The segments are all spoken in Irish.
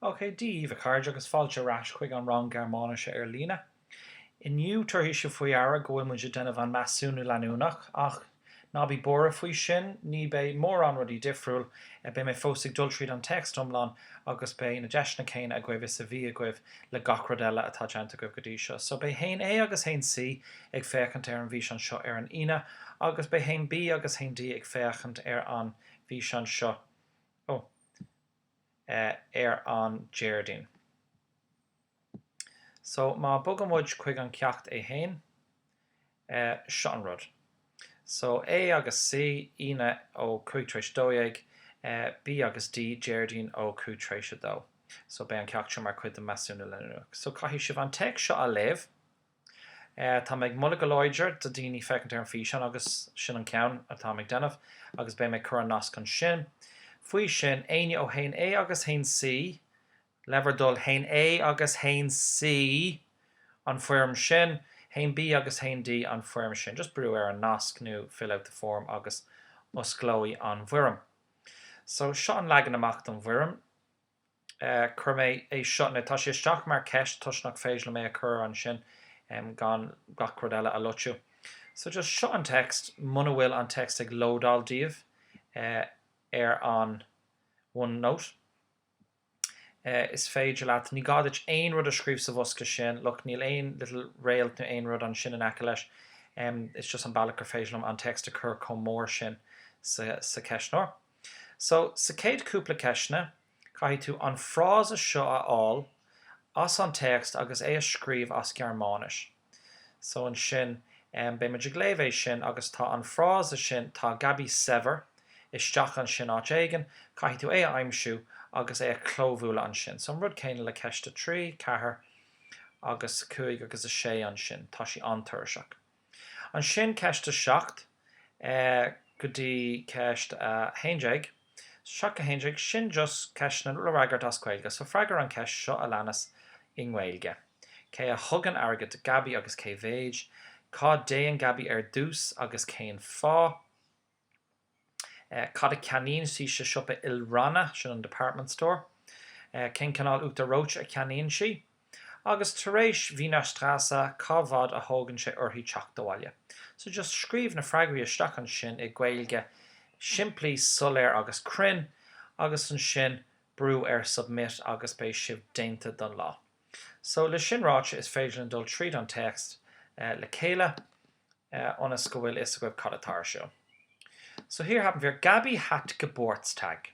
OK daoibh, a chairde, agus fáilte ar ais chuig an rang Gearmáinise ar líne. Inniu, tabharfaidh sibh faoi deara go bhfuil muid ag déanamh an measúnú leanúnach, ach ná bí buartha faoi sin, ní beidh mórán rudaí difriúil, beidh mé fós ag dul tríd an téacs iomlán agus beidh na deiseanna céanna agaibh is a bhí agaibh le gach rud eile atá déanta agaibh go dtí seo. So beidh haon A agus haon C ag féachaint ar an bhfíseán seo ar an Aoine agus beidh haon B agus haon D ag féachaint ar an bhfíseán seo ó ar an Déardaoin. So má bogann muid chuig an Ceacht é féin, seo an rud so, A agus C, Aoine ó cúig tar éis dó dhéag, B agus D, Déardaoin ó cúig tar éis a dó. So beidh an ceacht seo mar chuid den measúnú leanúnach. So caithfidh sibh an téacs seo a léamh. Tá mé ag moladh go láidir do daoine féachaint ar an bhfíseán agus sin an ceann atá mé ag déanamh agus beidh mé ag cur an nasc ansin. Faoi sin, éinne ó haon A agus haon C, le bhur dtoil haon A agus haon C an foirm sin, haon B agus haon D an foirm sin. Just brú ar an nasc nó Fill out the form agus osclóidh an bhfoirm. So, seo an leagan amach don bhfoirm. Chuir mé é seo, now tá sé isteach mar ceist toisc nach féidir liom é a chur ansin gan gach rud eile a loitiú. So, just seo an text muna bhfuil an text ag lódáil daoibh ar an OneNote. is féidir leat, ní gá duit aon rud a scríobh sa bhosca sin, look, níl aon little réalt nó aon rud ansin in aice leis, it's just an bealach gur féidir liom an text a chur chomh mór sin sa cheistneoir. So, sa chéad chúpla ceisteanna, caithfidh tú an frása seo a fháil as an téacs agus é a scríobh as Gearmáinis. So ansin, beidh muid ag léamh é sin agus tá an frása sin, tá Gabi saibhir, isteach ansin áit éigin, caithfidh tú é a aimsiú agus é a chlóbhualadh ansin. So an rud céanna le ceist a trí, ceathair agus a cúig agus a sé ansin, tá sí an-tuirseach. Ansin ceist a seacht go dtí ceist a haon déag. Seacht a haon déag, sin just ceisteanna le fhreagairt as Gaeilge, so freagair an cheist seo a leanas i nGaeilge. Cé a thugann airgead do Gabi agus cé mhéid? Cá dtéann Gabi ar dtús agus cén fáth? Cad a cheannaíonn sí sa siopa ilranna, sin an department store? Cén cineál uachtar reoite a cheannaíonn sí? Agus tar éis Wiener Strasse cá bhfad a thógann sé uirthi teacht abhaile? So just scríobh na freagraí isteach ansin i Gaeilge simplí, soiléir agus cruinn agus ansin brú ar Submit agus beidh sibh déanta don lá. So le sin ráite is féidir linn dul tríd an téacs le chéile ionas go bhfuil fhios agaibh cad atá ar siúl. So hier haben wir Gabi hat Geburtstag.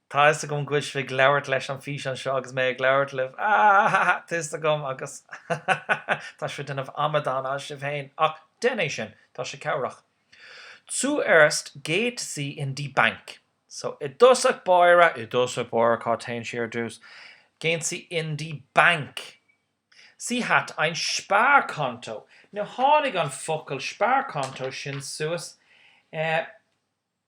Tá 'fhios agam go bhfuil sibh ag labhairt leis an bhfíseán seo agus mé ag labhairt libh, ha ha ha ha, tá 'fhios agam agus ha ha ha ha tá sibh ag déanamh amadán asaibh féin ach déan é sin, tá sé cabhrach. Zuerst geht sie in die Bank. So, i dtosach báire, i dtosach báire cá dtéann sí ar dtús? Gehen sie in die Bank. Sie hat ein Sparkonto. Now tháinig an focal Sparkonto sin suas eh,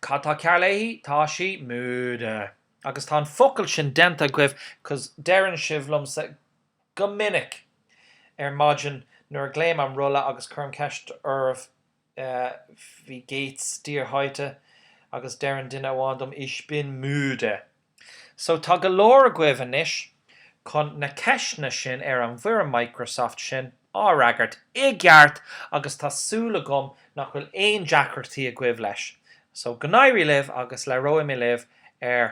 Cad tá cearr léi? Tá sí müde. Agus tá an focal sin déanta agaibh 'cause deireann sibh liomsa go minic ar maidin nuair a ghlaoim an rolla agus cuirim ceist oraibh Wie geht's dir heute agus deireann duine amháin dom Ich bin müde. So tá go leor agaibh anois chun na ceisteanna sin ar an bhfoirm Microsoft sin a fhreagairt i gceart agus tá súil agam nach bhfuil aon deacrachtaí agaibh leis. So go n-éirí libh agus labhróidh mé libh ar